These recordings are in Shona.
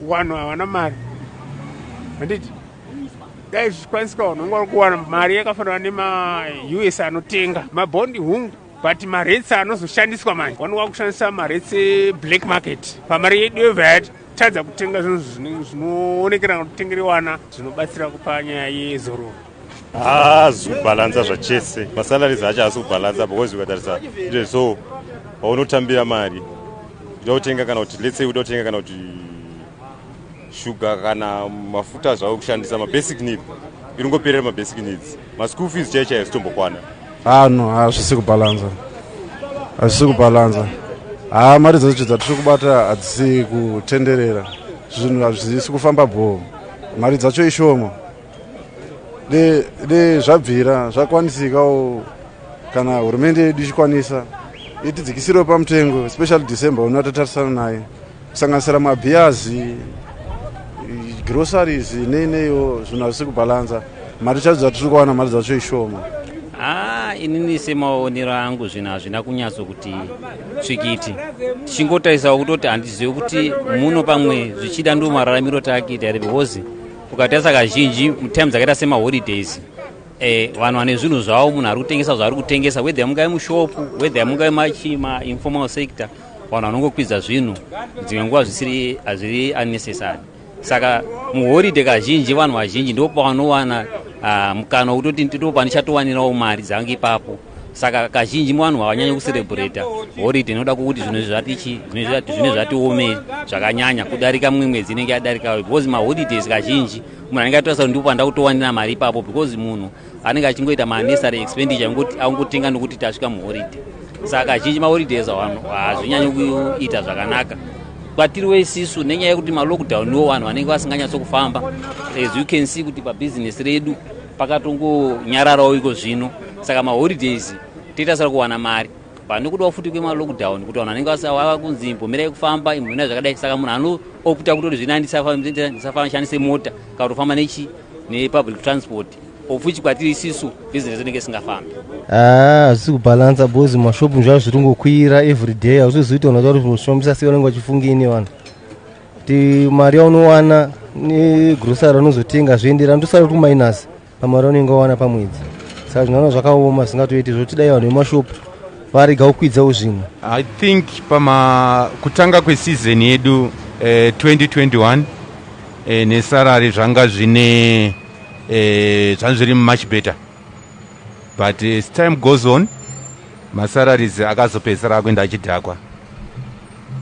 Wanhu havana mari. Handiti? Dai zvichikwanisika wanhu vanga vari kuwana mari yakafanana nemaUS anotenga mabondi hungu but maretsi anozoshandiswa manje wani wakushandisa maretsi black market pamari yedu yevayati tadza kutenga zvinhu zvinoonekera kutengerewana zvinobatsira kupa nyaya yezororo haazi kubhalansa zvachese masalaries acho haasi kubhalansa because ukatarisa ite so paunotambira mari uda kutenga kana kuti letsey uda kutenga kana kuti shuga kana mafuta zvavo kushandisa mabasic need iringoperera mabasic needs maschool fees chai chai hazitombokwana haa ah, no hazvisi kubhalansa hazvisi kubhalansa haa ah, mari dzacho dzatiri kubata hadzisi kutenderera zvinhu hazvisi kufamba bhoo mari dzacho ishoma de zvabvira zvakwanisikawo kana hurumende yedu ichikwanisa itidzikisirewo pamutengo especially december uno atatarisana naye kusanganisira mabhiyazi groceries nei neiwo zvinhu hazvisi kubhalanza mari chadzo dzatiri kuwana mari dzacho ishoma haa ah, inini semaonero angu zvinhu hazvina kunyatso kuti tsvikiti tichingotarisawo kutoti handizivi kuti muno pamwe zvichida ndo mararamiro taakiita here because ukatarisa kazhinji mutime dzakaita semaholidays eh, vanhu vane zvinhu zvavo munhu ari kutengesa zvaari kutengesa whether mungae mushopu whether mungae mainformal sector vanhu vanongokwidza zvinhu dzimwe nguva zvisiri hazviri unnecessary saka muhoride kazhinji vanhu vazhinji ndopo vanowana ah, mukana wekutoti ndipo pandichatowanirawo mari dzange ipapo saka kazhinji vanhu havanyanye kuserebrata horide inoda kukuti zvinhu zvatichi zvinhu zvatiome zvakanyanya kudarika mumwe mwedzi inenge yadarika because maholidays kazhinji munhu anenge atorasa kuti ndipo panda kutowanira mari ipapo because munhu anenge achingoita manessary expenditure angotenga nokuti tasvika muhoride saka kazhinji maholidays hazvinyanyi kuita zvakanaka kwatiri wesisu nenyaya yekuti malockdown wo vanhu vanenge vasinganyatsokufamba as you can see kuti pabhizinesi redu pakatongonyararawo iko zvino saka maholidays toita sara kuwana mari pane kudawo futi kwemalockdown kuti vanhu vanenge vava kunzi imbomirai kufamba imbomirai zvakadai saka munhu anoopta kutoti zvino andisafashandise mota kana kutofamba nechi nepublic transport of which kwatiri isisu business inenge isingafambi ah, hazvisi kubhalansa bcoz mashopu zvaa zviri ngokwira every day hausizoita unatoa kuti unoshombisa sei vanenge vachifunga ini vanhu kuti mari yaunowana negrosari unozotenga zvoenderana tosara kuti kumainasi pamari unenge wawana pamwedzi saka zvinoona zvakaoma zvingatoiti zvotidai vanhu vemashopu varega kukwidzawo zvinhu i think pama kutanga kwesizoni yedu eh, 2021 eh, nesarari zvanga zvine eh, zvanga zviri much better but as time goes on masararies akazopedzisira akuenda achidhakwa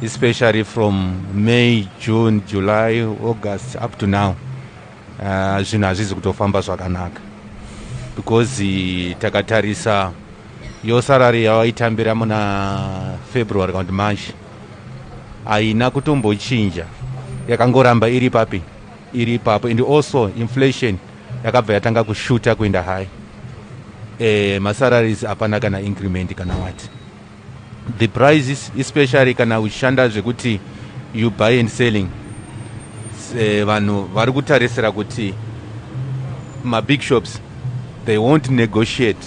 especially from may june july august up to now uh, zvinhu uh, hazvizi kutofamba zvakanaka because uh, takatarisa yo sarari yawaitambira muna february kana kuti march haina kutombochinja yakangoramba iri papi iri ipapo and also inflation yakabva yatanga kushuta kuenda high e, eh, masararies hapana kana increment kana wati the prices especially kana uchishanda zvekuti you buy and selling eh, vanhu vari kutarisira kuti mabig shops they won't negotiate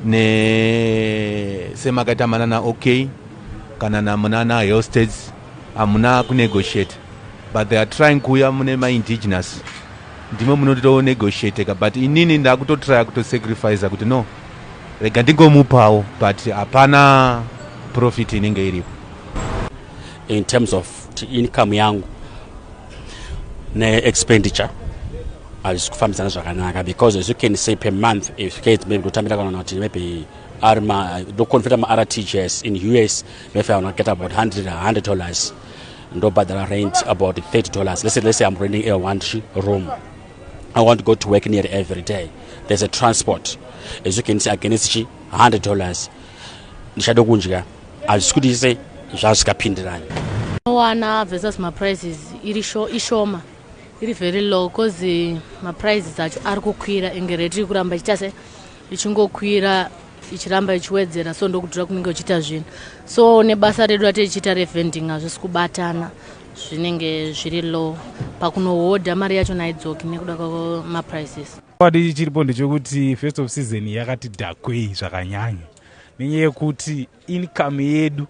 ne semakaita manana okay kana namunana hill states hamuna kunegotiate but they are trying kuuya mune maindigenous ndimwe munotonegotiateka but inini ndakutotrya kutosacrifica kuti no Rega ndigomupawo but hapana profit inenge iripo. In terms of income yangu neexpenditure hazvisi kufambidzana zvakanaka because as you can say per month if kids maybe kutambira kana kuti maybe ari ma ndoconveta martgs in us maybe i will get about 100 100 dollars ndobhadhara rent about 30 dollars let's say, let's say i'm renting a one room I want to go to work near every day. There's a transport. As you can see, against chi hundred dollars. Ndishado kunjika. Hazvisi kuti ise zvazvikapindirana. Wana versus my prices iri sho ishoma iri very low because eh, my prices acho ari kukwira enge rate iri kuramba ichiita se ichingokwira ichiramba ichiwedzera so ndokudhura kunenge uchiita zvinhu so nebasa redu ratichiita revending hazvisi kubatana zvinenge zviri low pakunohodha mari yacho naidzoki nekuda kwemaprices padi chiripo ndechekuti first of season yakati dhakwei zvakanyanya nenyaya yekuti income yedu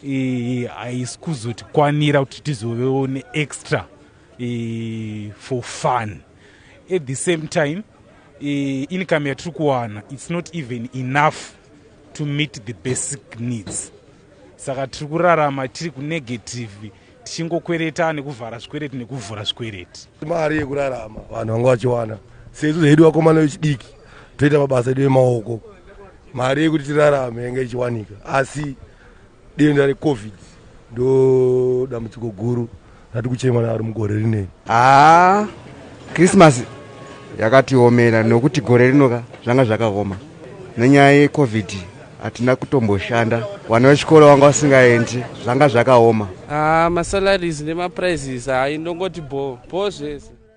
eh, haisi kuzotikwanira kuti tizovewo neextra eh, for fun at the same time eh, income yatiri kuwana it's not even enough to meet the basic needs saka tiri kurarama tiri kunegative tichingokwereta nekuvhara zvikwereti nekuvhura zvikwereti mari yekurarama vanhu vanga vachiwana sesu zvedu vakomana vechidiki toita mabasa edu emaoko mari yekuti tirarame yanga ichiwanika asi denda recovid ndo dambudziko guru ndati kuchema naro mugore rinei haa krismasi yakatiomera nokuti gore rino ka zvanga zvakaoma nenyaya yecovid hatina kutomboshanda vana vechikoro vanga vasingaendi zvanga zvakaoma haa masalaries nemaprizes haa indongoti bho bho zvese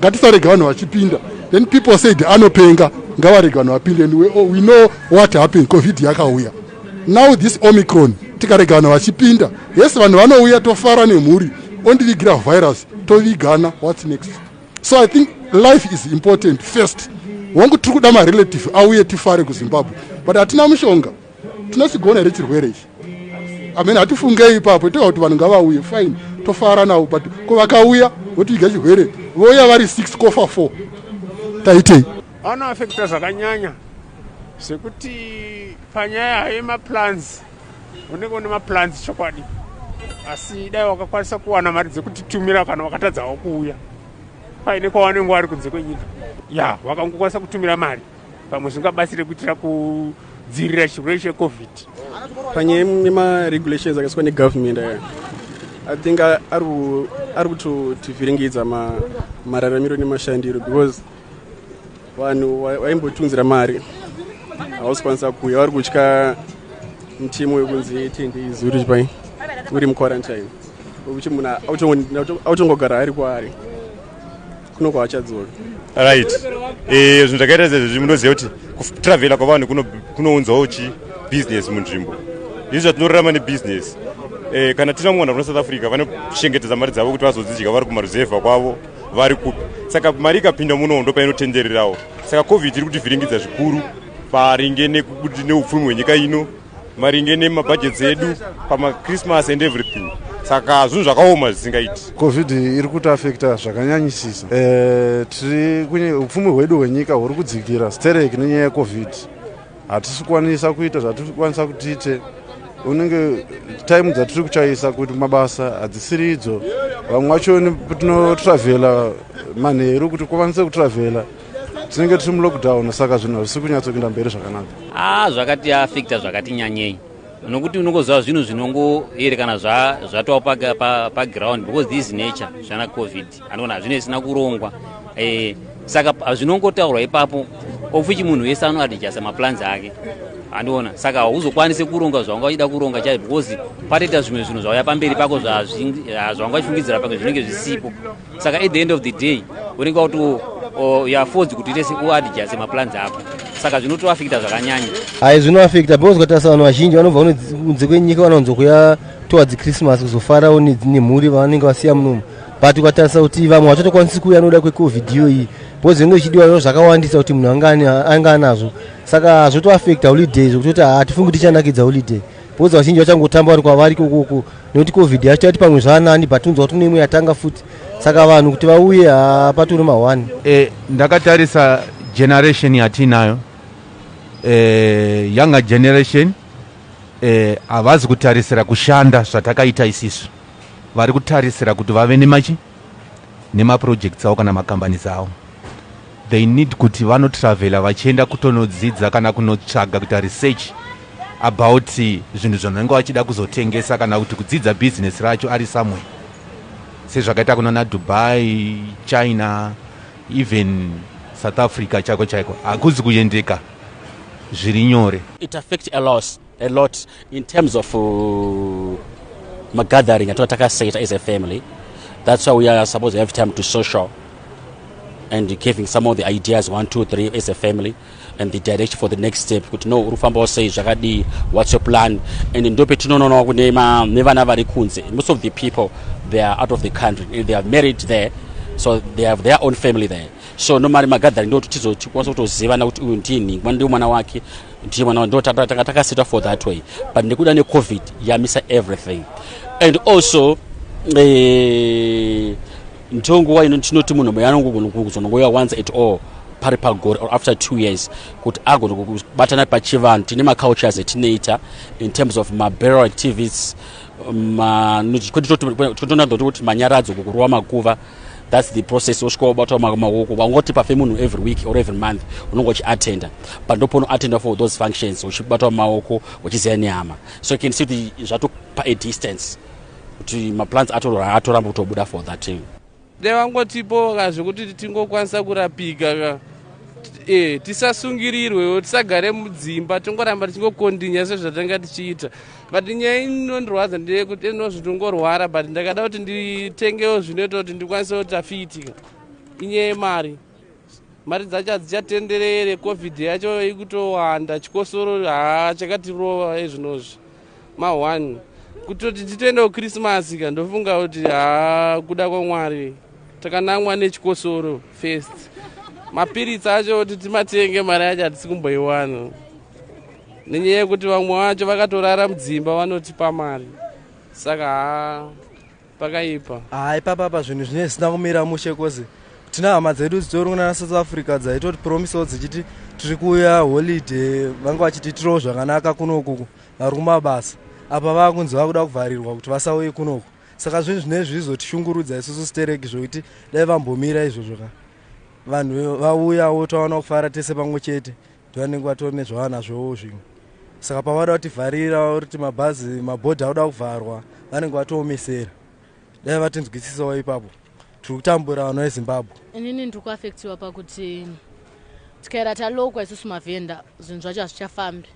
ngatisarega vanhu vachipinda then people said anopenga ngavarega vanhu vapinde and we, oh, we know what happened covid yakauya now this omicron tikarega vanhu vachipinda yes vanhu vanouya tofara nemhuri ondivigira virus tovigana whats next so i think life is important first wangu tiri kuda marelative auye tifare kuzimbabwe but hatina mushonga tinosigona here chirwere ichi amen hatifungei ipapo toa kuti vanhu ngavauye fine tofara navo but ko vakauya votiiga chirwere vouya vari six kofa four taitei anoafekta zvakanyanya zvekuti panyaya yemaplans unenge une maplans chokwadi asi dai wakakwanisa kuwana mari dzekutitumira kana wakatadzawo kuuya paine kwawanenge wari kunze kwenyika ya wakangokwanisa kutumira mari pamwe zvingabatsire kuitira kudzivirira chirwere checovid panyaya nemaregulations akaiswa negovernment aya i think ari kutotivhiringidza mararamiro nemashandiro because vanhu vaimbotiunzira mari hausi kwanisa kuuya vari kutya mutemo wekunzi ten days uri chipai uri muquarantine wekuti munhu autongogara ari kwaari kuno kwavachadzoka right eh, zvinhu zvakaita sezvezvi munoziva kuti kutravela kwavanhu kunounzawo chi business munzvimbo izvi zvatinorarama nebusiness eh, kana tina mwana kuna south africa vanochengetedza mari dzavo kuti vazodzidya vari kumaruzevha kwavo vari kupi saka mari ikapinda muno ndo painotendererawo saka covid iri kutivhiringidza zvikuru paringe neupfumi hwenyika ino maringe nemabhajeti edu pamachristmas and everything saka zvinhu zvakaoma zvisingaiti covid iri kutiafekta zvakanyanyisisa eh, tiri upfumi hwedu hwenyika huri kudzikira stereki nenyaya yecovid hatisi kukwanisa kuita zvatiri kukwanisa kutiite unenge time dzatiri kuchaisa kuti mabasa hadzisiri idzo vamwe vacho tinotravelha manheru kuti kukwanise kutravelha tinenge tiri mulockdown saka zvinhu hazvisi kunyatsokuinda mberi zvakanaka a zvakati afekta zvakati nyanyei nokuti unongoziva zvinhu zvinongoerekana zvatova paground pa, pa because this nature zvana covid anoona hazvine zvisina kurongwa e, saka hazvinongotaurwa ipapo ofuchi munhu wese anoadijasa maplans ake andiona saka hauzokwanise kuronga zvawanga uchida kuronga chaizvo because patoita zvimwe zvinhu zvauya pamberi pako zvawanga uchifungidzira pake zvinenge zvisipo saka at the end of the day unenge wakuti oh, yafozi kuti ite uadjase maplans ako saka zvinotoafekta zvakanyanya hai zvinoafekta because ukatarisa vanhu vazhinji vanobva kunze kwenyika vanowanzo kuya towards christmas kuzofarawo nemhuri vanenge vasiya munomu but ukatarisa kuti vamwe vachatokwanisi kuuya anoda kwecovid iyoyi because zvinenge zvichidiwa zvo zvakawandisa kuti munhu anga anazvo saka zvotoafekta holiday zvokuti kuti hatifungi tichanakidza holiday Bhoza vazhinji vachangotamba vari kwavari kukuku nekuti covid yacho yati pamwe zvaanani but unzwa kuti neimwe yatanga futi saka vanhu kuti vauye hapaturi mahwani e, ndakatarisa generation yatiinayo e, younger generation e, havazi e, kutarisira kushanda zvatakaita isisu vari kutarisira kuti vave nemachi nema projects awo kana ma companies awo they need kuti vano travela vachienda kutonodzidza kana kunotsvaga kuita research about zvinhu zvanenge vachida kuzotengesa kana kuti kudzidza business racho ari somewhere sezvakaita kunana dubai china even south africa chaiko chaiko hakuzi kuendeka zviri nyore it affect a loss a lot in terms of uh, magathering atinga takaseta as a family that's why we are supposed to have time to social and giving some of the ideas one two three as a family and the direction for the next step kuti no uri kufambawo sei zvakadii whats your plan and ndo petinononawo kune nevana vari kunze most of the people they are out of the country and they are married there so they have their own family there so nomari magathering ndo kuti tizotikwanisa kutozivana kuti uyu ndini mwana ndiwo mwana wake ndiye mwana ndo takasetwa for that way but nekuda necovid yamisa everything and also eh, ndiyo nguva ino tinoti munhu moyo anogona kuzonongoiwa once at all pari pagore or after two years kuti agona kubatana pachivanhu tine macultures etinoita in terms of maberal activities kwetitonato kuti manyaradzo kukurova makuva thats the process osvika wabatwa maoko waungoti pafe munhu every week or every month unonge uchiatenda but ndoponoatenda for those functions uchibatwa maoko uchiziva nehama so can see kuti zvatopa a distance kuti maplants atoramba kutobuda for that time Dai vangotipowo ka zvekuti tingokwanisa kurapika ka e, tisasungirirwewo tisagare mudzimba tingoramba tichingokondinya sezvatanga tichiita but nyaya inondirwadza ndeyekuti inozviti ungorwara but ndakada kuti nditengewo zvinoita kuti ndikwanise kuti afiitika inyaya yemari Mari dzacho hadzichatenderere, covid yacho ikutowanda, chikosoro haa chakatirova ezvinozvi ma one kutoti titoendawo Christmas ka ndofunga kuti haa kuda kwaMwari takanamwa nechikosoro first. Mapiritsi acho kuti timatenge mari yacho hatisi kumboiwana nenyaya yekuti vamwe vacho vakatorara mudzimba vanotipa mari saka haa pakaipa haa ipapa apa zvinhu zvine zvisina kumira mushe kozi tina hama dzedu dzitori kunana south africa dzaitoti promisewo dzichiti tiri kuuya holiday vanga vachitiitirawo zvakanaka kunokuku vari kumabasa apa vava kunzi vava kuda kuvharirwa kuti vasauye kunoku saka zvinhu zvine zvizotishungurudza isusu stereki zvokuti dai vambomira izvozvo ka vanhu vauyawo taona kufara tese pamwe chete vanenge vatori nezvavanazvowo zvimwe saka pavada kutivharira kuti mabhazi mabhodhi akuda kuvharwa vanenge vatoomesera dai vatinzwisisawo ipapo tiri kutambura vanhu vezimbabwe inini ndiri kuafektiwa pakuti tikaera talokwa isusu mavhenda zvinhu zvacho hazvichafambi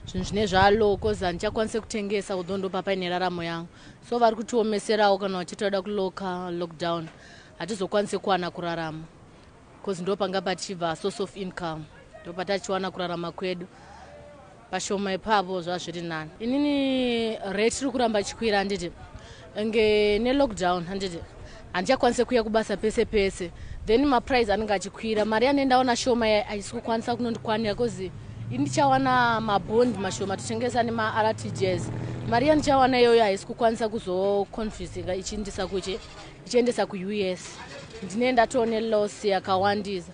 zvinhu zvine zvalo bcause handichakwanise kutengesa kudho ndopapaine raramo yangu so vari kutiomeserawo kana vachiti vada kuloka lockdown hatizokwanise kuwana kurarama bcoz ndopanga pachibva source of income ndopatachiwana kurarama kwedu pashoma ipapo zvazviri nani inini rate ri kuramba chikwira handiti nge nelockdown handiti handichakwanise kuya kubasa pese pese then maprice anenge achikwira mari yanendaona shoma haisi kukwanisa kunondikwanira bcause indichawana mabond mashoma tichengesa nemartgs mari yandichawana iyoyo haisi kukwanisa kuzoconfusinga ichiindisa kuchi ndichiendesa kuus ndine ndatoone loss yakawandisa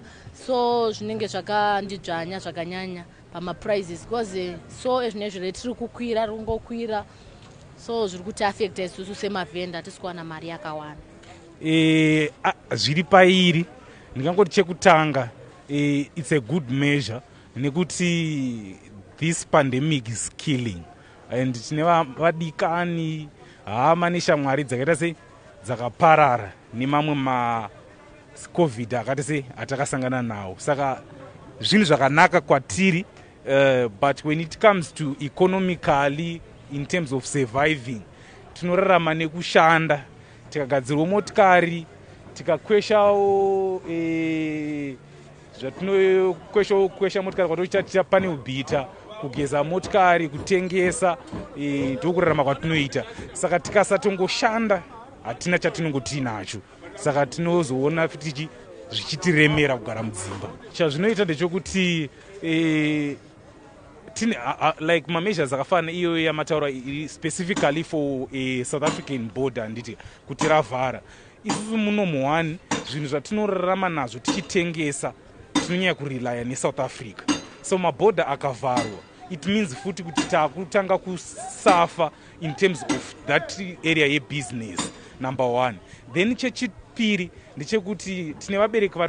so zvinenge zvakandidzvanya zvakanyanya pamaprizes because eh, so ezvine zvire tiri kukwira ringokwira so zviri kuti affecta isusu semavhenda hatisi kuwana mari yakawanda e, zviri pairi ndingangoti chekutanga e, its a good measure nekuti this pandemic is killing and tine vadikani hama neshamwari dzakaita sei dzakaparara nemamwe macovid akati sei atakasangana nawo saka zvinhu zvakanaka kwatiri uh, but when it comes to economically in terms of surviving tinorarama nekushanda tikagadzirwa motikari tikakweshawo eh, zvatinokwesha kwesha motikari kwatoita ticha pane ubhita kugeza motikari kutengesa e, ndokurarama e, kwatinoita saka tikasatongoshanda hatina chatinongo tiinacho saka tinozoona fitichi zvichitiremera kugara mudzimba chazvinoita ndechokuti e, tine uh, uh, like mameasures akafanana iyoyo yamataura specifically for a south african border handiti kuti ravhara Isusu muno muhwani zvinhu zvatinorarama nazvo tichitengesa tinonyanya kurelaya nesouth africa so mabhodha akavharwa it means futi kuti takutanga kusafa in terms of that area yebusiness number one then chechipiri ndechekuti tine vabereki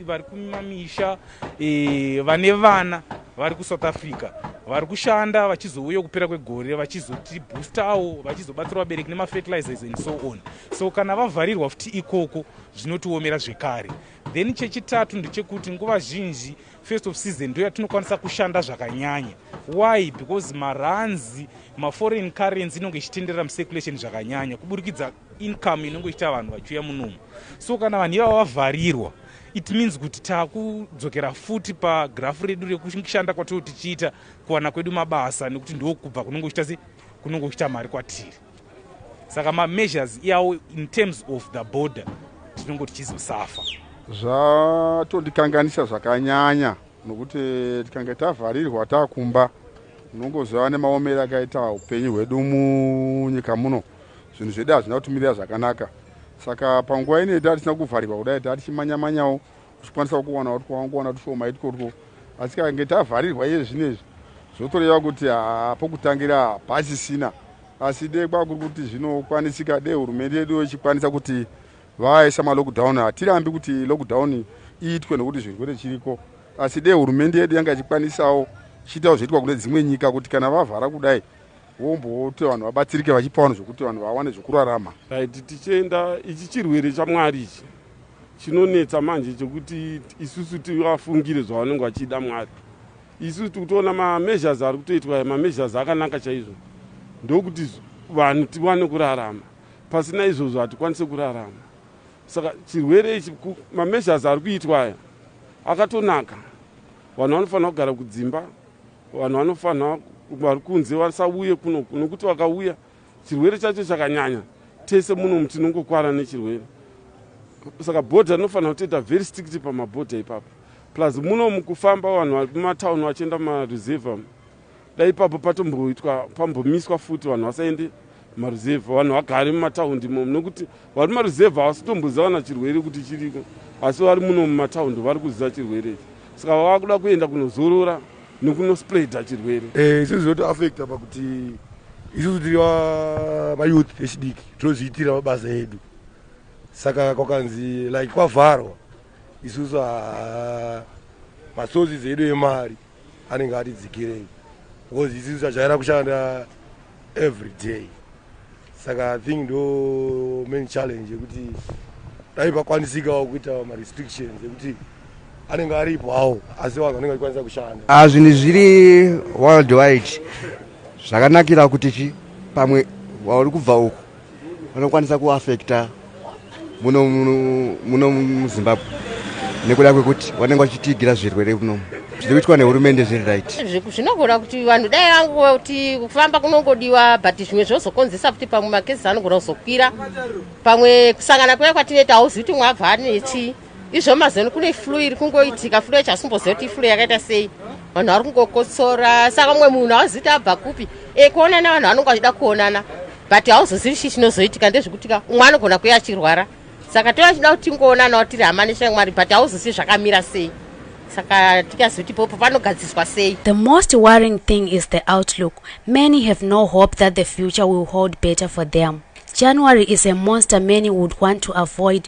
vari kumamisha e, vane vana vari kusouth africa vari kushanda vachizouya kupera kwegore vachizotiboostawo vachizobatsira vabereki nemafertilizers and so on so kana vavharirwa futi ikoko zvinotiomera zvekare then chechitatu ndechekuti nguva zhinji first of season ndo yatinokwanisa kushanda zvakanyanya why because maranzi maforeign currency inonge ichitenderera mucirculation zvakanyanya kuburikidza income inonge ichiita vanhu vachiuya munomu so kana vanhu ivavo vavharirwa it means kuti takudzokera futi pagrafu redu rekushanda kwatoo tichiita kuwana kwedu mabasa nekuti ndokubva kunenge kuchita se kunenge kuchita mari kwatiri saka mameasures iyawo in terms of the border tinonge tichizosafa zvatondikanganisa zvakanyanya nokuti tikange tavharirwa takumba unongoziva nemaomero akaita upenyu hwedu munyika muno zvinhu zvedu hazvina kutimirira zvakanaka saka panguva ino yatava tisina kuvharirwa kudai tava tichimanyamanyawo tichikwanisa kuwana kuti kwawangowana tushoma itwotwo asi kange tavharirwa iye zvino izvi zvotoreva kuti pokutangira hapachisina asi dee kwakuri kuti zvinokwanisika dee hurumende yedu ichikwanisa kuti vaisa malockdown hatirambi kuti lockdown iitwe nokuti zvirwere chiriko asi dee hurumende yedu yanga ichikwanisawo chiitawo zvoitwa kune dzimwe nyika kuti kana vavhara kudai wombokuti vanhu vabatsirike vachipa vanhu zvokuti vanhu vawane zvokurarama right tichienda ichi chirwere chamwari ichi chinonetsa manje chekuti isusu tivafungire zvavanenge vachida mwari isusu tikutoona mameasures ari kutoitwa mameasures akanaka chaizvo ndokuti vanhu tiwane kurarama pasina izvozvo hatikwanise kurarama saka chirwere ichi mameasures ari kuitwa aya akatonaka vanhu vanofanira kugara kudzimba vanhu vanofanira vari kunze vasauye kuno nokuti vakauya chirwere chacho chakanyanya tese muno mu tinongokwara nechirwere saka bhodha rinofanira kutoita very strict pamabhodha ipapo plus muno mukufamba vanhu vari kumatown vachienda mumareserve dai ipapo patomboitwa pambomiswa futi vanhu vasaende maruzevha vanhu vagari mumataundi imomo nekuti vari maruzevha havasitomboziva kana chirwere kuti chiriko asi vari muno mumataundi vari kuziva chirwere ichi saka vava kuda kuenda kunozorora nekunospreada chirwere eh, isusu zvotoafecta pakuti isusu tiri vayouth vechidiki tinozviitira mabasa edu saka kwakanzi like kwavharwa isusu masources edu emari anenge ati dzikirei because isisu tajaira kushanda every day saka i think ndo main challenge yekuti dai pakwanisikawo kuitawo marestrictions ekuti anenge aripo hawo asi vanhu vanenge vachikwanisa kushanda ah, zvinhu zviri worldwide zvakanakira kuti chi pamwe wauri kubva uku vanokwanisa kuafekta muno muno muzimbabwe nekuda kwekuti vanenge vachitiigira zvirwere kuno zviri kuitwa nehurumende zviri right zvinogona kuti vanhu dai vangova kuti kufamba kunongodiwa but zvimwe zvozokonzesa kuti pamwe makesi anogona kuzokwira pamwe kusangana kuya kwatinoita hauzi kuti mwabva anechii izvo mazeno kune flu iri kungoitika flu yacho asimboziva kuti iflu yakaita sei vanhu vari kungokotsora saka mumwe munhu hauziti abva kupi e kuonana vanhu vanonge vachida kuonana but hauzozivi chii chinozoitika ndezvekutika umwe anogona kuya achirwara saka tova chida kuti tingoonanawo tiri hama neshamwari but hauzozivi zvakamira sei saka tikazivi kuti popo panogadziswa sei the most worrying thing is the outlook many have no hope that the future will hold better for them january is a monster many would want to avoid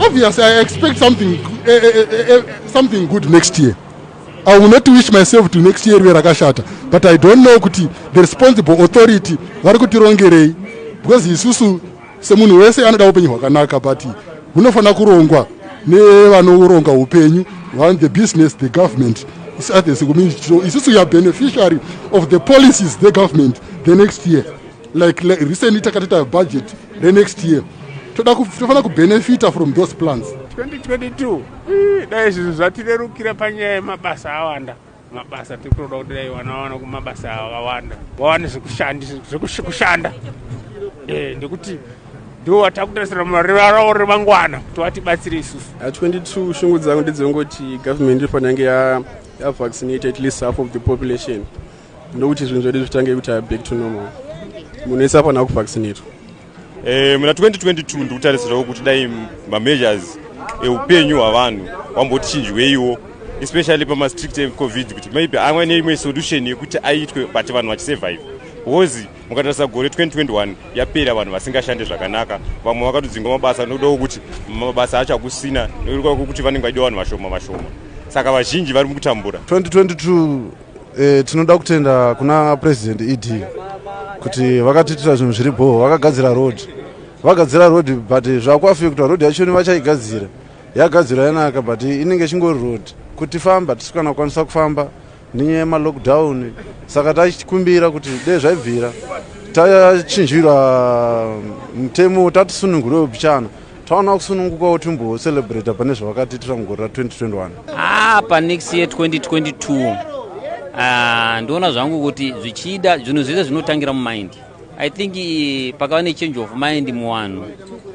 Obviously, I expect something, uh, uh, uh, something good next year. I will not wish myself to next year rakashata, but I don't know kuti the responsible authority vari kutirongerei because isusu semunhu wese anoda upenyu hwakanaka but hunofanira kurongwa nevanoronga upenyu run the business the government isusu we are beneficiary of the policies the government the next year like, like recently takatoita budget renext year toda tofanira kubenefita from those plans 2022 dai zvinhu zvatirerukira panyaya yemabasa awanda mabasa tiri kutoda kuti dai vana vawana kumabasa awawanda vawane zvekushanda eh, ndekuti ndivo vatakutarisira murivarawo remangwana kuti vatibatsire isusu 22 shungu dzangu ndedzongoti government inofanira yange yavaccinate at least half of the population ndokuti zvinhu zvedu zvitange kuita back to normal munhu wese afanira kuvaccinatwa eh, muna 2022 ndikutarisirawo kuti dai mameasures eupenyu hwavanhu wambotichinjweiwo especially pamastrict ecovid kuti maybe amwe neimwe solution yekuti aitwe but vanhu vachisurvive because mukatarisa gore 2021 yapera vanhu vasingashande zvakanaka vamwe vakatodzingwa mabasa nokudawo kuti mabasa acho akusina nokuti vanenge vaida vanhu vashoma vashoma saka vazhinji vari mukutambura 2022 E, tinoda kutenda kuna president ed kuti vakatiitira zvinhu zviri bhoho vakagadzira road vagadzira road but zvakuafekta road yachoni vachaigadzira yagadzirwa yanaka but inenge ichingori road kuti famba tisi kana kukwanisa kufamba nenyaya yemalockdown saka tachikumbira kuti dee zvaibvira tachinjirwa mutemo tatisunungurwe upichana taona kusunungukawo timbo celebrate pane zvavakatiitira mugore ra 2021 haa panext year 2022 ah, ndoona zvangu kuti zvichida zvinhu zvese zvinotangira mumind i think eh, pakava nechange of mind muvanhu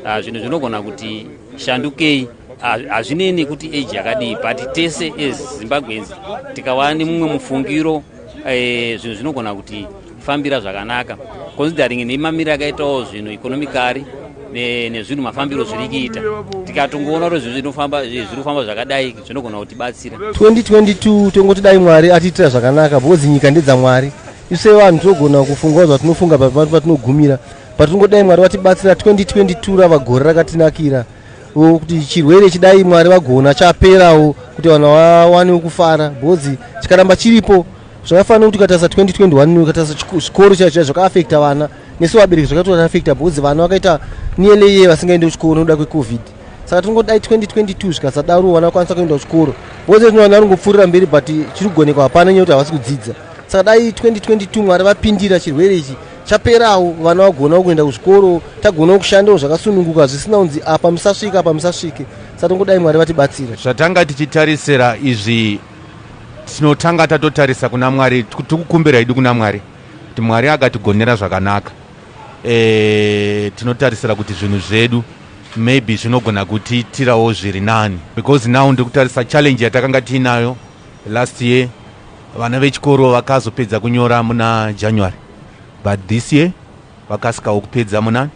ah, zvinhu zvinogona kuti shandukei ah, hazvinei nekuti age yakadii but tese as zimbabweans tikawana nemumwe mufungiro Eh, zvinhu zvinogona kuti fambira zvakanaka considering nemamiriro akaitawo zvinhu economicari nezvinhu mafambiro zviri kuita tikatongoona kuti zvinhu zvinofamba zviri kufamba zvakadai zvinogona kutibatsira 2022 tongoti dai mwari atiitira zvakanaka because nyika ndedzamwari ise vanhu tinogona kufungawo zvatinofunga patinogumira but tingodai mwari vatibatsira 2022 rava gore rakatinakira kuti chirwere chidai mwari vagona chaperawo kuti vanhu vawanewo kufara bhozi chikaramba chiripo zvakafanira kuti ukatarisa 2021 ukatarisa zvikoro chaicho chaicho zvakaafekta vana nesu vabereki zvakatoafekta bhozi vana vakaita nearly year vasingaende kuchikoro nokuda kwecovid saka tinongodai 2022 zvikasadaro vana vakwanisa kuenda kuchikoro bhozi rino vana ringopfuurira mberi but chiri kugonekwa hapana nyaya kuti havasi kudzidza saka dai 2022 mwari vapindira chirwere ichi chaperawo vana vagonawo kuenda kuzvikoro tagonawo kushandawo zvakasununguka zvisina kunzi apa musasvike apa musasvike sa tongodai mwari vatibatsire zvatanga tichitarisira izvi tinotanga tatotarisa kuna mwari tikukumbira idi kuna mwari kuti mwari akatigonera zvakanaka e, tinotarisira kuti zvinhu zvedu maybe zvinogona kutiitirawo zviri nani because now ndiri kutarisa challenge yatakanga tiinayo last year vana vechikoro vakazopedza kunyora muna january but this year vakasikawo kupedza muna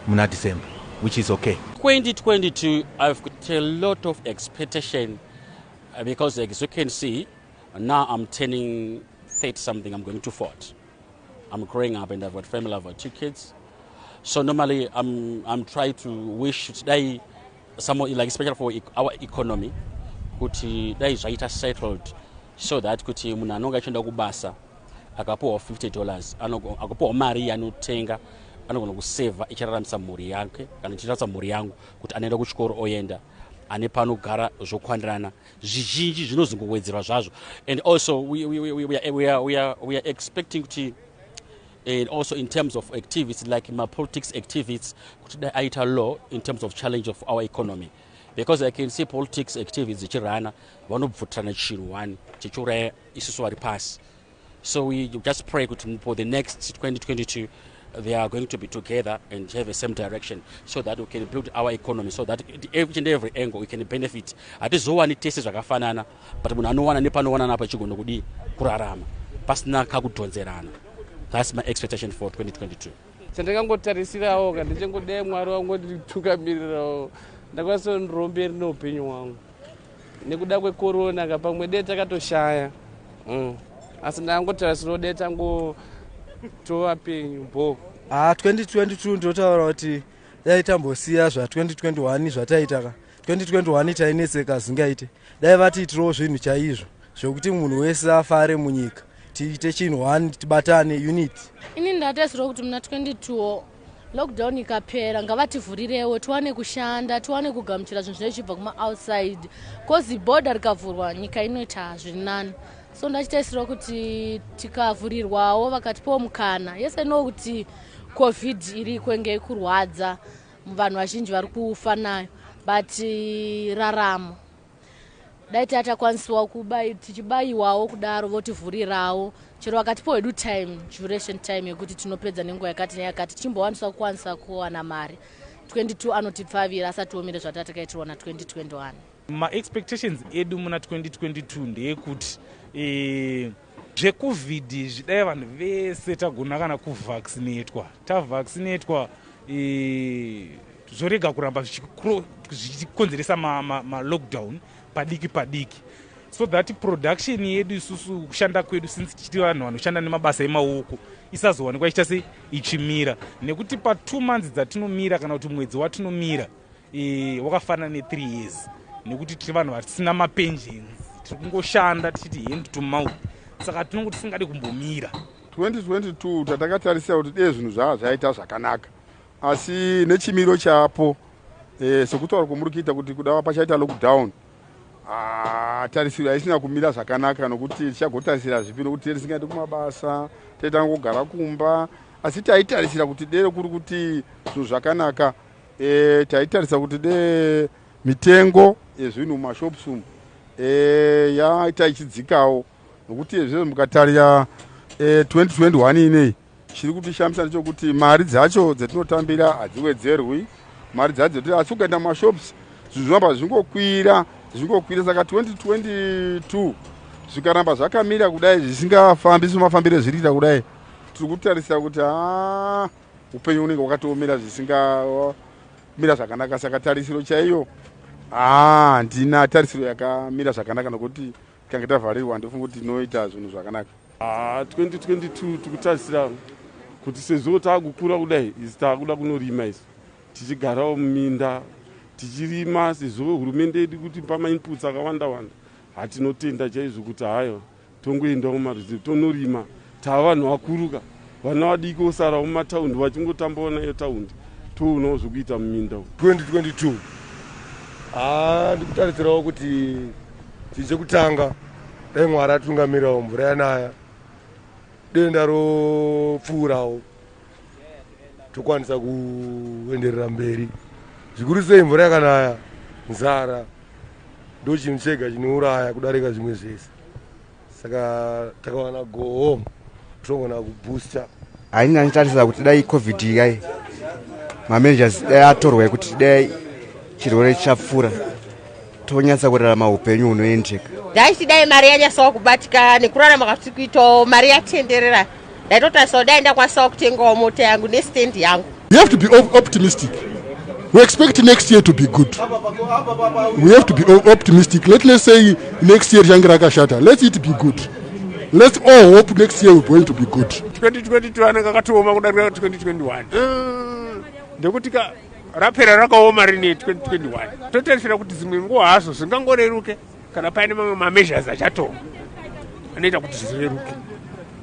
muna december which is okay 2022 i've got a lot of expectation uh, because as you can see now i'm turning 30 something i'm going to fort i'm growing up and i've got family i've got two kids so normally i'm, I'm trying to wish today some like especially for e, our economy kuti dai zvaita settled so that kuti munhu anonge achienda kubasa akapiwa 50 dollars akapiwa mari yanotenga anogona kusevha ichiraramisa mhuri yake kana ichiraramisa mhuri yangu kuti anoenda kuchikoro oenda ane panogara zvokwandirana zvizhinji zvinozongowedzerwa zvazvo and also we, we, we, we, are, we, are, we, are, we are expecting kuti and also in terms of activities like mapolitics activities kuti dai aita law in terms of challenge of our economy because i can see politics activities dzichirana vanobvutirana chinhu one chichiuraya isusu vari pasi so we just pray kuti for the next 2022 they are going to be together and have a same direction so that we can build our economy so that each and every angle we can benefit hatizowani tese zvakafanana but munhu anowana nepanowanana apa chigona kudii kurarama pasina kakudhonzerana that's my expectation for 2022 chandakangotarisirawo ka ndichangodai mwari wangu nditukamirirawo ndakwanisa ndiromberi neupenyu hwangu nekuda kwekorona ka pamwe dee takatoshaya mm. asi ndakangotarisirawo dee tango tova penyu bo ha ah, 2022 ndotaura kuti dai tambosiya zva 2021 zvataiita ka 2021 tainetseka zingaite dai vatiitirawo zvinhu chaizvo zvekuti munhu wese afare munyika tiite chinhu one tibatane unit ini ndataisirwa kuti muna 22 lockdown ikapera ngavativhurirewo tiwane kushanda tiwane kugamuchira zvinhu zvinee zvichibva kumaoutside bcause border rikavhurwa nyika inoita zviri nani so ndachitaisirwa kuti tikavhurirwawo vakatipawo mukana yese no kuti covid iriko inge ikurwadza vanhu vazhinji vari kufa nayo but eh, raramo dai taa takwanisiwa tichibayiwawo kudaro votivhurirawo chero vakatipo hedu time duration time yekuti tinopedza nenguva yakati neyakati tichimbowaniswa kukwanisa kuwana mari 22 anotipfavira asati omire zvataa takaitirwa na 2021 maexpectations edu muna 2022 ndeyekuti eh, Zvekuvid izvi dai vanhu vese tagona kana kuvaccinatwa tavaccinatwa zvorega kuramba zvichikonzeresa malockdown ma, ma padiki padiki so that production yedu isusu kushanda kwedu since tichiti vanhu vanoshanda nemabasa emaoko isazowanikwa ichita se ichimira nekuti patwo months dzatinomira kana kuti mwedzi watinomira e, wakafanana ne3 years nekuti tiri vanhu vasina mapensions tiri kungoshanda tichiti hand to mouth saka tinongo tisingadi kumbomira 2022 tatakatarisira kuti dee zvinhu zvaa zvaita zvakanaka asi nechimiro chapo e, sekutaura kwomuri kuita kuti kuda pachaita lockdown Ah, tarisiro haisina kumira zvakanaka nokuti tichagotarisira zvipi nokuti tee tisingaiti kumabasa tee tangogara kumba asi taitarisira kuti dere kuri kuti zvinhu zvakanaka e, taitarisa kuti de mitengo yezvinhu mumashops umu e, yaita ichidzikawo nokuti ezvizvo mukatarira e, 2021 inei chiri kutishamisa ndechokuti mari dzacho dzetinotambira hadziwedzerwi mari dzacho dzetoti asi ukaenda mumashops zvinhu zvinoramba zvichingokwira zvichingokwira saka 2022 zvikaramba zvakamira kudai zvisingafambi semafambiro ezviriita kudai tiri kutarisira kuti haa ah, upenyu unenge wakatoomera zvisingamira zvakanaka saka tarisiro chaiyo haa ah, handina tarisiro yakamira zvakanaka nokuti tikange tavharirwa handifunga kuti tinoita zvinhu zvakanaka 2022 ah, tikutarisira kuti sezvo taakukura kudai isu taakuda kunorima isu tichigarawo muminda tichirima sezvo hurumende yedu kuti pamainputs akawanda wanda hatinotenda chaizvo kuti hayo Tongoenda kumaruzevha tonorima tava vanhu vakuruka vana vadiki vosara mumataundi vachingotambawo nayo taundi toonawo zvekuita muminda 2022 haa ndikutarisirawo kuti chinhu chekutanga dai mwari atungamirirawo mvura yanaya denda ropfuurawo tokwanisa kuenderera mberi zvikuru sei mvura yakanaya nzara ndo chinhu chega chinouraya kudarika zvimwe zvese saka takawana go home togona kubooster haina nditarisira kuti dai covid yai mamanagers dai atorwa yekuti dai chirwere chapfuura tonyatsa kurarama upenyu hunoendeka dai tidai mari yanyasawa kubatika nekurarama kwatiri kuitawo mari yatenderera ndaitotarisao dai ndakwanisawo kutengawo mota yangu nestand yangu you have to be optimistic we expect next year to be good we have to be optimistic let let's say next year change rakashata let it be good let's all hope next year we're going to be good 2022 anenge akatooma kudarika 2021 mm, ndekuti ka rapera rakaoma rinei 2021 totarisira kuti dzimwe nguva hazvo zvingangoreruke kana paine mamwe mameasures achatorwa anoita kuti zvireruke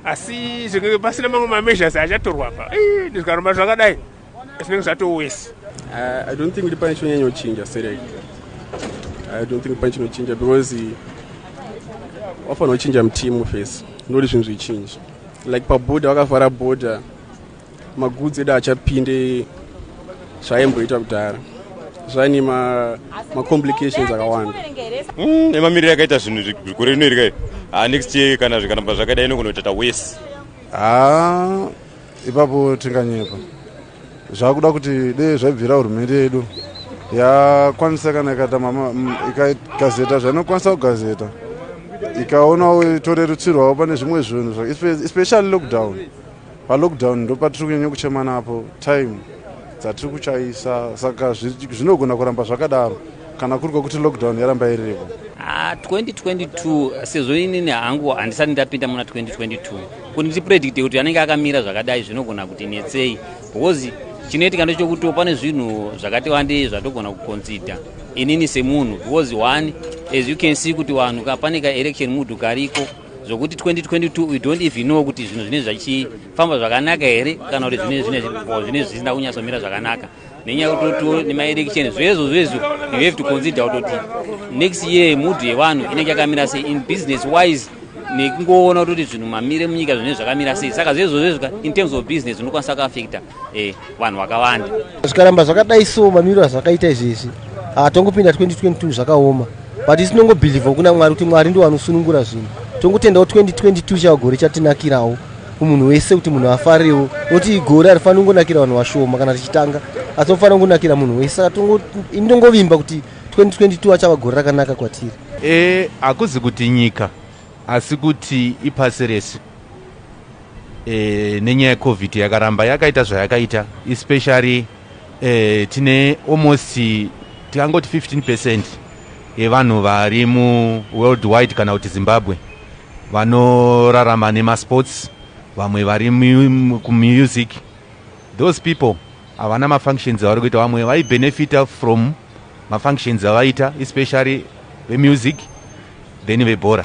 asi zvinenge pasina mamwe mameasures achatorwa apa zvikaromba zvakadai zvinenge zvatowesi uh, i don't think kuti pane chinonyanyochinja serei i don't think pane chinochinja because eh, wafanira kuchinja mutimu fesi ndoti zvinhu zvichinji like paboda wakavhara boda magudzi edu achapinde zvaimboita kudhara zvaine macomplications ma akawanda mm, emamiriro mm, akaita zvinhu zvikore rino iri kai ah, next year kana zvikanamba zvakadai inogonoita tawese haa ah, ipapo tinganyepa zvakuda kuti dee zvaibvira hurumende yedu yakwanisa kana ikaita mm, ikagazeta zvainokwanisa kugazeta ikaonawo itore rutsirwawo pane zvimwe zvinhu especially lockdown Palockdown ndopatiri kunyanya kuchema napo time dzatiri kuchaisa saka zvinogona kuramba zvakadaro kana kuri kwekuti lockdown yaramba iriko. Ah, 2022 sezvo inini hangu handisati ndapinda muna 2022 kuti ndipredicte kuti anenge akamira zvakadai zvinogona kuti netsei because chinoitika ndechokuti pane zvinhu zvakati wandei zvatogona kuconsider inini semunhu because one as you can see kuti vanhu pane kaelection mudhu kariko zvokuti 2022 we don't even know kuti zvinhu zvinenge zvichifamba zvakanaka here kana kuti zvinenge zvisina kunyatsomira zvakanaka nenyaya yekutotiwo nemaelection zvezvo zvezvo you have to consider kutoti next year mood yevanhu inenge yakamira sei in business wise nekungoona kutoti zvinhu mamire munyika zvinenge zvakamira sei saka zvezvo zvezvo in terms of business unokwanisa kuafecta eh, vanhu vakawanda zvikaramba zvakadai so mamiriro azvakaita izvezvi hatongopinda 2022 zvakaoma but isi tinongobhilivha kuna mwari kuti mwari ndiwo anosunungura zvinhu tongotendawo 2022 chava gore chatinakirawo kumunhu wese kuti munhu afarewo noti gore harifanira kungonakira vanhu vashoma kana tichitanga asi tofanira kungonakira munhu wese saka ini tongovimba kuti 2022 achava gore rakanaka kwatiri e hakuzi kuti nyika asi kuti ipasi rese e, nenyaya yecovid yakaramba yakaita zvayakaita especially e, tine almost tikangoti 15 percent yevanhu vari muworldwide kana kuti zimbabwe vanorarama nemasports vamwe vari kumusic those people havana mafunctions avari kuita vamwe vaibenefita from mafunctions avaita especially vemusic then vebhora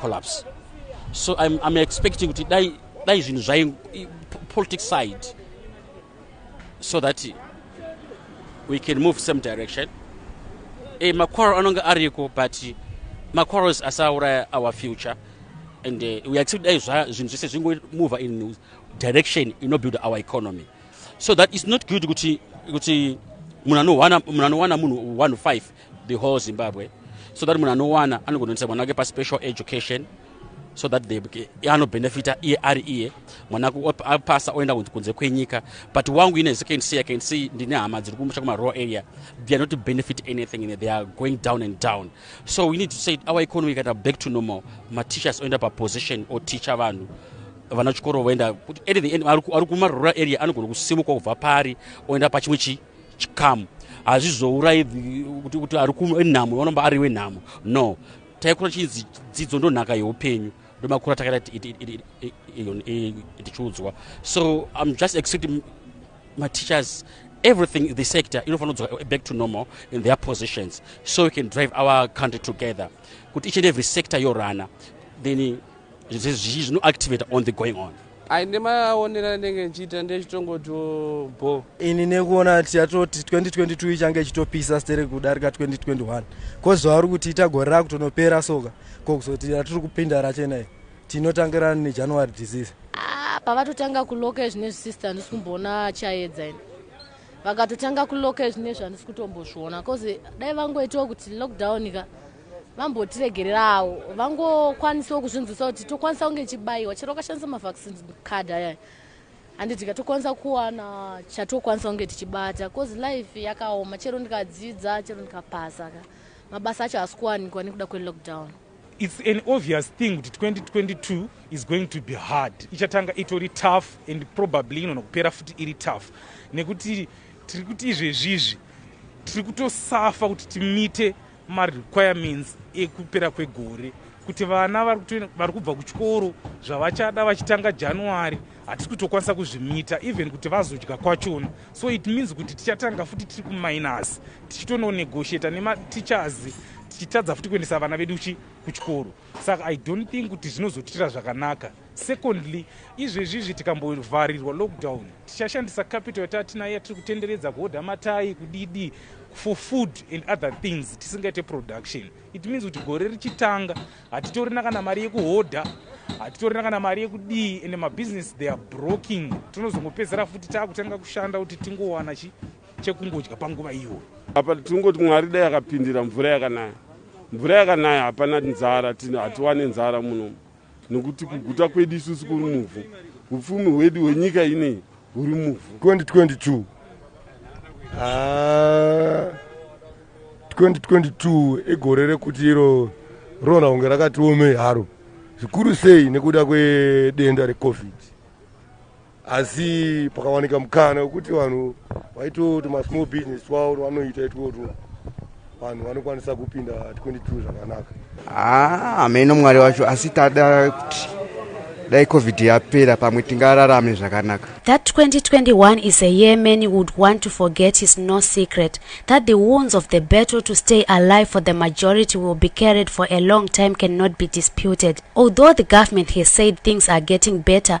collapse so i'm, I'm expecting kuti dai dai zvinhu zvai politic side so that we can move same direction e, eh, maquarrel anonge ariko but maquarrels asauraya our future and uh, we accept dai zvinhu zvese zvingomover in direction inobuild our economy so that is not good kuti kuti munhu anowana munhu one five the whole zimbabwe so that munhu anowana anogononisa mwana wake paspecial education so that they anobhenefita iye ari iye mwana apasa oenda kunze kwenyika but wangu ine second see i can see ndine hama dziri kumusha kumarural area they are not to benefit anything in they are going down and down so we need to say our economy ikaita back to normal mateachers oenda paposition oteacha vanhu vana chikoro voenda kuti at the end ari kumarural area anogona kusimuka kubva pari oenda pachimwe chii chikamu hazvizourayi kuti kuti ari kunhamo vanomba ari wenhamo no taikura chinzi dzidzo ndonhaka yeupenyu ndomakura takaita tichiudzwa so im just expecting mateachers everything the sector inofanira kudzoka back to normal in their positions so we can drive our country together kuti each and every sector yorana then zvizhinji zvinoactivator on the going on aine maonero anenge nchiita ndechitongoti bho ini nekuona ti yatoti 2022 ichange ichitopisa stere kudarika 2021 kozuva uri kuti ita gore rakutonopera soka ko kuzoti ratiri kupinda rachena i tinotangirana nejanuary disease ah, pavatotanga kuloka izvine zvisister handisi kumboona chayedza ini vakatotanga kuloka izvine zvandisi kutombozviona bcause dai vangoitawo kuti lockdown ka vambotiregererawo vangokwanisawo kuzvinzwisa kuti tokwanisa kunge chibayiwa chero ukashandisa mavaccine card ayaya handi tikatokwanisa kuwana chatokwanisa kunge tichibata bcause life yakaoma chero ndikadzidza chero ndikapasa ka mabasa acho haasi kuwanikwa nekuda kwelockdown its an obvious thing kuti 2022 is going to be hard ichatanga itori tough and probably inona kupera futi iri tough nekuti tiri kuti izvezvizvi tiri kutosafa kuti timite marequirements ekupera kwegore kuti vana vari kubva kuchikoro zvavachada vachitanga january hatisi kutokwanisa kuzvimita even kuti vazodya kwachona so it means kuti tichatanga futi tiri kuminus tichitononegotiata nemateachers tichitadza futi kuendesa vana vedu chi kuchikoro saka i don't think kuti zvinozotiitira zvakanaka Secondly, izvezvi izvi tikambovharirwa lockdown tichashandisa capital yataatinayo yatiri kutenderedza kuhodha matayi kudidi for food and other things tisingaite production it means kuti gore richitanga hatitorina kana mari yekuhodha hatitorina kana mari yekudii and mabusiness they are broking tinozongopedzera futi taakutanga kushanda kuti tingowana chi chekungodya panguva iyoyo apa tingoti mwari dai akapindira mvura yakanaya mvura yakanaya hapana nzara hatiwane nzara munomu nokuti kuguta kwedu isusu kuri muvhu upfumi hwedu hwenyika inei huri muvhu 2022 ah, 2022 igore rekuti iro rona kunge rakatiomei haro zvikuru sei nekuda kwedenda recovid asi pakawanika mukana wekuti vanhu vaitoti masmall business twavo vanoita itwotwo vanhu vanokwanisa kupinda 22 zvakanaka hameno ah, mwari wacho asi tada kuti dai covid yapera pamwe tingararame zvakanaka that 2021 is a year many would want to forget is no secret that the wounds of the battle to stay alive for the majority will be carried for a long time cannot be disputed although the government has said things are getting better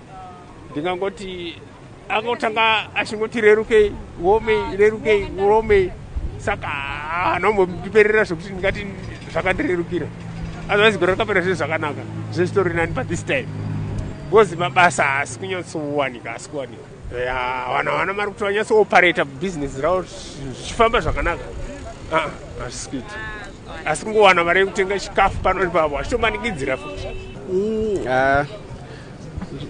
ndingangoti akotanga achingoti rerukei womei rerukei womei saka hanombotiperera zvekuti ndingati zvakandirerukira otherwise gore rakapera zvinhu zvakanaka zvesitori nani but this time because mabasa haasi kunyatsowanika haasi kuwanika vana vana mari kuti vanyatsooperator business ravo zvichifamba zvakanaka ah, hazvisi kuita asi kungowana mari yekutenga chikafu pano nepavo hachitomanikidzira futi mm, ah.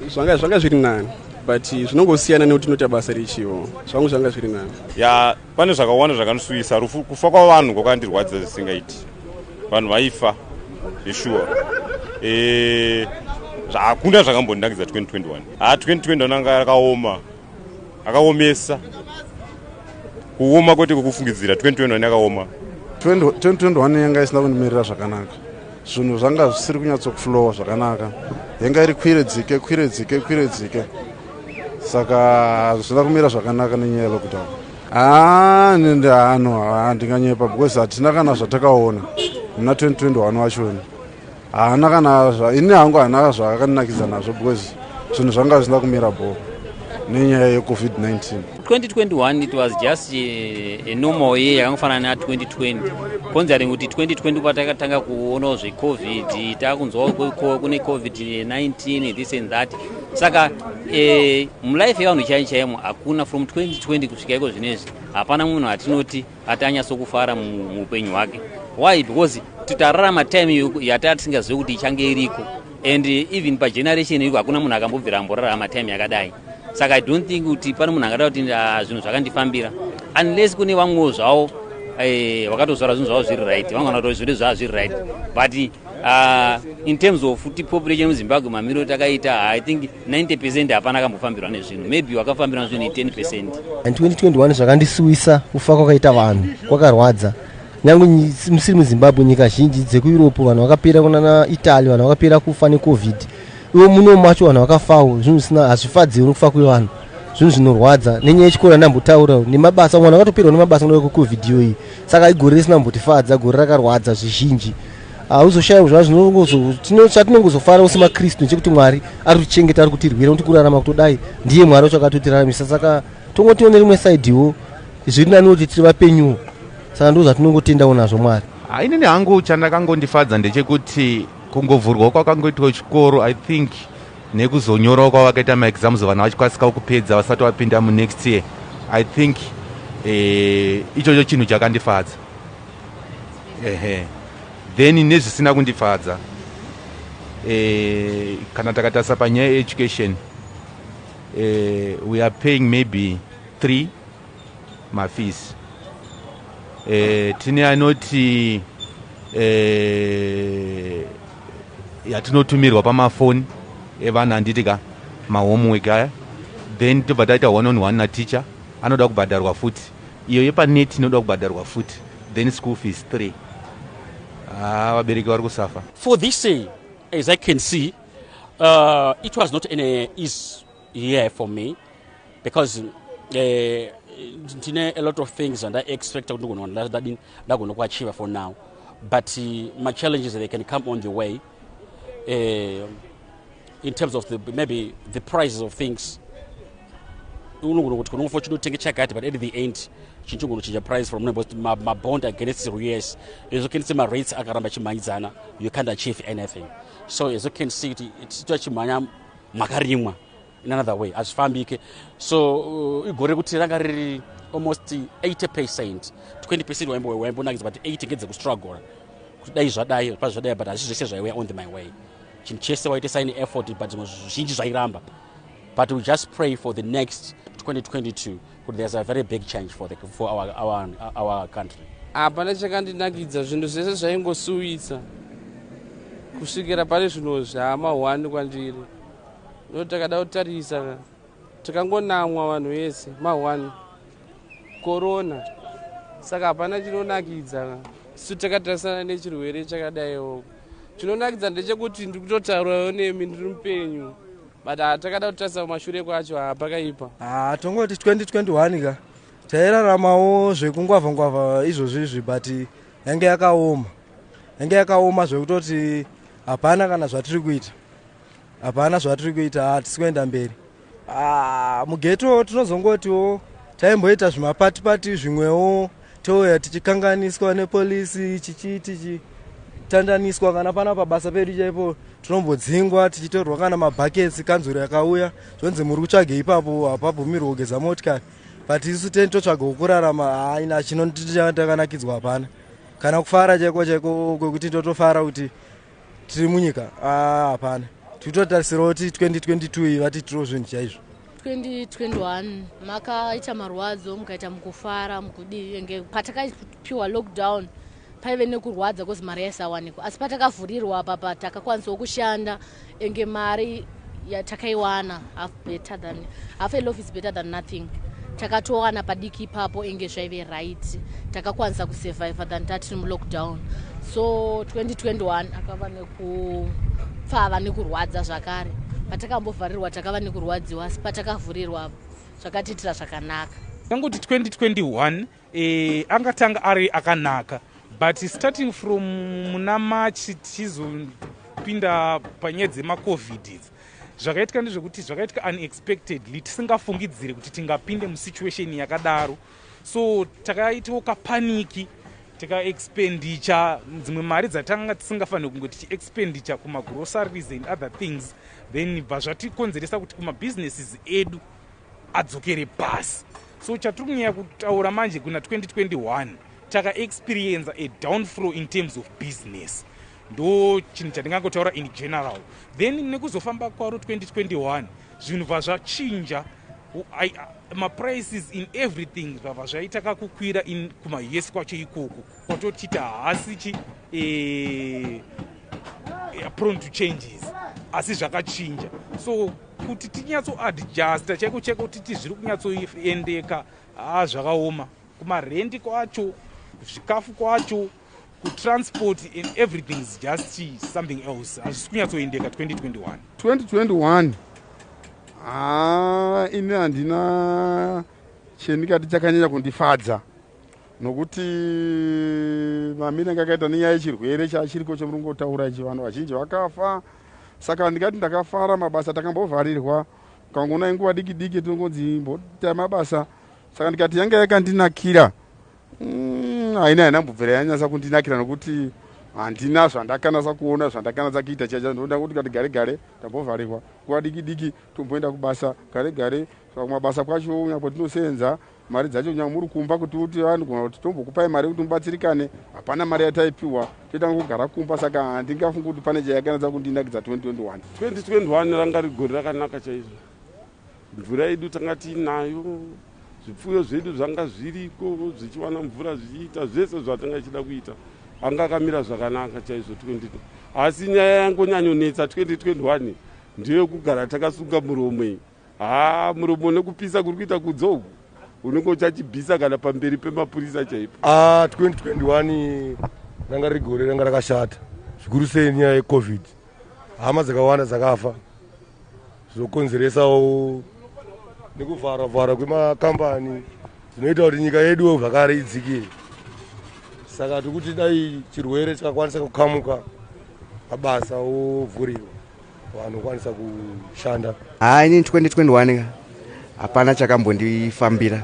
zvanga zvanga zviri nani but zvinongosiyana nekuti inoita basa richiwo zvangu zvanga zviri nani ya pane zvakawanda zvakandisusisa rufu kufa kwavanhu kwakandirwadza zvisingaiti vanhu vaifa zveshuwa e, hakuna zvakambondinakidza 2021 ha 2021 anga akaoma akaomesa kuoma kwete kwekufungidzira 2021 akaoma 2021 yanga isina kundimirira zvakanaka zvinhu zvanga zvisiri kunyatsokuflowa zvakanaka yanga iri kwire dzike kwire dzike kwire dzike saka hazvina kumira zvakanaka nenyaya yelockdown haa nende hano handinganyepa because hatina kana zvatakaona muna 2021 wachoni haana kana ini hangu haana zvakandinakidza nazvo because zvinhu zvanga zvisina kumira bho nenyaya yecovid-19 2021 it was just eh, a normal year yakangofanana na 2020 considering kuti 2020 patakatanga kuonawo zvecovid takunzwawo kune covid-19 this and that saka eh, mulife yevanhu chai chaimo hakuna from 2020 kusvika iko zvinezvi hapana munhu atinoti ati anyatsokufara muupenyu hwake why because titararama time yataa tisingazive kuti ichange iriko and even pageneration iko hakuna munhu akambobvira amborarama time yakadai saka i don't think kuti pane munhu angada kuti ah, zvinhu zvakandifambira unless kune vamwewo zvavo eh, vakatozvara zvinhu zvavo zviri right vamwe vanotaura zviri zvavo zviri right but uh, in terms of kuti population muzimbabwe mamiriro takaita i think 90 percent hapana akambofambirwa nezvinhu maybe wakafambirwa nezvinhu i 10 percent and 2021 zvakandisuwisa kufa kwakaita vanhu kwakarwadza nyange musiri muzimbabwe nyika zhinji dzekueurope vanhu vakapera kunana italy vanhu vakapera kufa necovid ivo muno macho vanhu vakafawo zvinhu zvisina hazvifadzi uri kufa kwevanhu zvinhu zvinorwadza nenyaya yechikoro andambotaura nemabasa mwana akatoperwa nemabasa noda kwecovid iyoyi saka igore risina mbotifadza gore rakarwadza zvizhinji hauzoshayiwa zvazvino chatinongozofara ose makristu chekuti mwari ari kutichengeta ari kutirwira kuti kurarama kutodai ndiye mwari wacho akatotiraramisa saka tongotione rimwe saidiwo zviri nani kuti tiri vapenyuwo saka ndo zvatinongotendawo nazvo mwari hainini hangu chandakangondifadza ndechekuti kungovhurwa kwakangoitwa chikoro i think nekuzonyorawo kwavakaita maexams vanhu vachikasikawo kupedza vasati vapinda munext year i think eh, ichocho chinhu chakandifadza ehe then nezvisina kundifadza eh, kana takatarisa panyaya yeeducation eh, we are paying maybe three mafees eh, tine anoti eh, yatinotumirwa pamafoni evana handiti ka mahomework aya then tobva taita one on one nateacher anoda kubhadharwa futi iyo yepanet inoda kubhadharwa futi then school fees three haa ah, vabereki vari kusafa for this say eh, as i can see uh, it was not any ease here for me because eh, ndine uh, a lot of things and i expect kuti ndigona ndagonokuachiva for now but uh, machallenges they can come on the way uh, in terms of the, maybe the prices of things unogona kuti kunongofa uchinotenge chakati but at the end chinhu chigona kuchinja price from nobos mabond against us as you can see marates akaramba chimhanyidzana you can't achieve anything so as you can see kuti titoa chimhanya makarimwa in another way hazvifambike so uh, igore rekuti ranga riri almost 80 percent 20 percent waimbonakidza but 80 ngedzekustruggle kuti dai zvadai pa zvadai but hazvi zvese zvaiwea on the my way chinhu chese waite sign effort but zvimwe zvizhinji zvairamba but we just pray for the next 2022 kuti there's a very big change for, the, for our, our, our country hapana ah, chakandinakidza zvinhu zvese zvaingosuwisa kusvikira pane zvinhu zvaamahwani kwandiri ndo takada kutarisa ka tikangonamwa vanhu vese mahwani korona saka hapana chinonakidza ka su takatarisana nechirwere chakadaiwo chinonakidza ndechekuti ndiri kutotaurawo nemi ndiri mupenyu but hatakada kutarisa kumashure kwacho hapakaipa ha tongoti 2021 ka tairaramawo zvekungwavha ngwavha izvozvi izvi but yange yakaoma yange yakaoma zvekutoti hapana kana zvatiri kuita hapana zvatiri kuita hatisi kuenda mberi ah, mugeto tinozongotiwo taimboita zvimapatipati zvimwewo touya tichikanganiswa nepolisi chichii tichi tandaniswa kana pana pabasa pedu chaipo tinombodzingwa tichitorwa kana mabhaketsi kanzuro yakauya zvonzi muri kutsvage ipapo hapabvumirwe kugeza motikari but isu teni totsvaga kukurarama haina chinotakanakidzwa hapana kana kufara chaiko chaiko kwekuti totofara kuti tiri munyika ah, hapana titotarisirawo kuti 2022 iyi vati tiro zvinhu chaizvo 2021 makaita marwadzo mukaita mukufara mukudii enge patakaipiwa lockdown paive nekurwadza kozi mari yaisawanikwa asi patakavhurirwa apa patakakwanisawo kushanda enge mari ya takaiwana half better than half a loaf is better than nothing takatowana padiki ipapo inge zvaive right takakwanisa kusurviva than tatiri mulockdown so 2021 akava nekupfava nekurwadza zvakare patakambovharirwa takava nekurwadziwa asi patakavhurirwa zvakatiitira zvakanaka tanguti 2021 Eh, angatanga ari akanaka but starting from muna march tichizopinda panyaya dzemacovid idzi zvakaitika ndezvekuti zvakaitika unexpectedly tisingafungidziri kuti tingapinde musituation yakadaro so takaitawo kapaniki tikaexpenditure dzimwe mari dzatanga tisingafanire kunge tichiexpenditure kumagroceries and other things then bva zvatikonzeresa kuti kumabhizinesis edu adzokere pasi so chatiri kunyaya kutaura manje kuna 2021 takaexperienza a downflow in terms of business ndo chinhu chandingangotaura in general then nekuzofamba kwaro 2021 zvinhu bva zvachinja maprices in everything zvabva zvaita kakukwira in kumaus kwacho ikoko kwatotiita haasi chi eh, prone to changes asi zvakachinja so kuti tinyatsoadjusta chaiko chaiko titi zviri kunyatsoendeka haa zvakaoma kumarendi kwacho zvikafu kwacho kutransport and everything is just something else hazvisi kunyatsoendeka 2021 2021 haa ini handina chendikati chakanyanya kundifadza nokuti mamiri anga akaita nenyaya yechirwere chachiriko chemurungotaura ichi vanhu vazhinji vakafa saka handingati ndakafara mabasa takambovharirwa kangona inguva diki diki tinongonzi imboita mabasa saka ndikati yanga yakandinakira mm, haina haina mbubvira yanyasa kundinakira nokuti handina zvandakanasa kuona zvandakanasa kuita chacha ndoda kuti kati gare gare tambovharirwa nguva diki diki tomboenda kubasa gare gare saka kumabasa kwacho nyapo tinoseenza mari dzacho kunyange muri kumba kuti uti andigona ah, kuti tombokupai mari yekuti mubatsirikane hapana mari yataipiwa toitanga kugara kumba saka handingafungi kuti pane chayakanatsa kundinakidza 2021 2021 ranga rigori rakanaka chaizvo mvura yedu tanga tiinayo zvipfuyo zvedu zvanga zviriko zvichiwana mvura zvichiita zvese zvatanga ichida kuita anga akamira zvakanaka chaizvo 20 asi nyaya yangonyanyonetsa 2021 ndeyokugara takasunga muromo iyi Haa muromo nekupisa kuri kuita kudzo uku unenge uchachibvisa kana pamberi pemapurisa chaipo. Ah 2021 ranga riri gore ranga rakashata zvikuru sei nyaya yecovid. Hama dzakawanda dzakafa zvokonzeresawo nekuvharwa vharwa kwemakambani zvinoita kuti nyika yeduwo zvakare idzikire. Saka tiri kuti dai chirwere chakakwanisa kukamuka mabasa ovhurirwa. vanokwanisa kushanda haa ini 2021 ka hapana chakambondifambira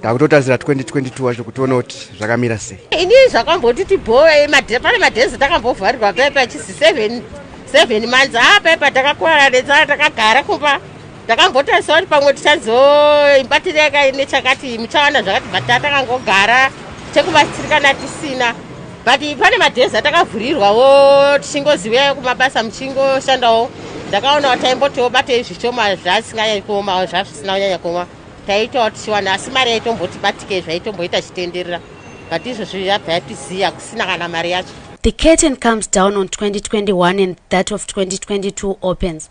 takutotarisira 2022 wacho kuti tione kuti zvakamira sei ini zvakambondi tibhoe pane madhezi takambovharirwa pepa chisi 7 months haa pepa takakwara netsara takagara kumba takambotarisira kuti pamwe tichazoibatira yakai nechakati muchawana zvakati but takangogara chekubatsirikana tisina but pane madhezi atakavhurirwawo tichingozivayo kumabasa muchingoshandawo ndakaonawo taimbotiwo batei zvishoma zvasinganyanya kuomawo zvazvisina kunyanya kuoma taitawo tichiwana asi mari yaitombotibatike zvaitomboita chitenderera but izvozvi yabva yatiziya kusina kana mari yacho The curtain comes down on 2021 and that of 2022 opens.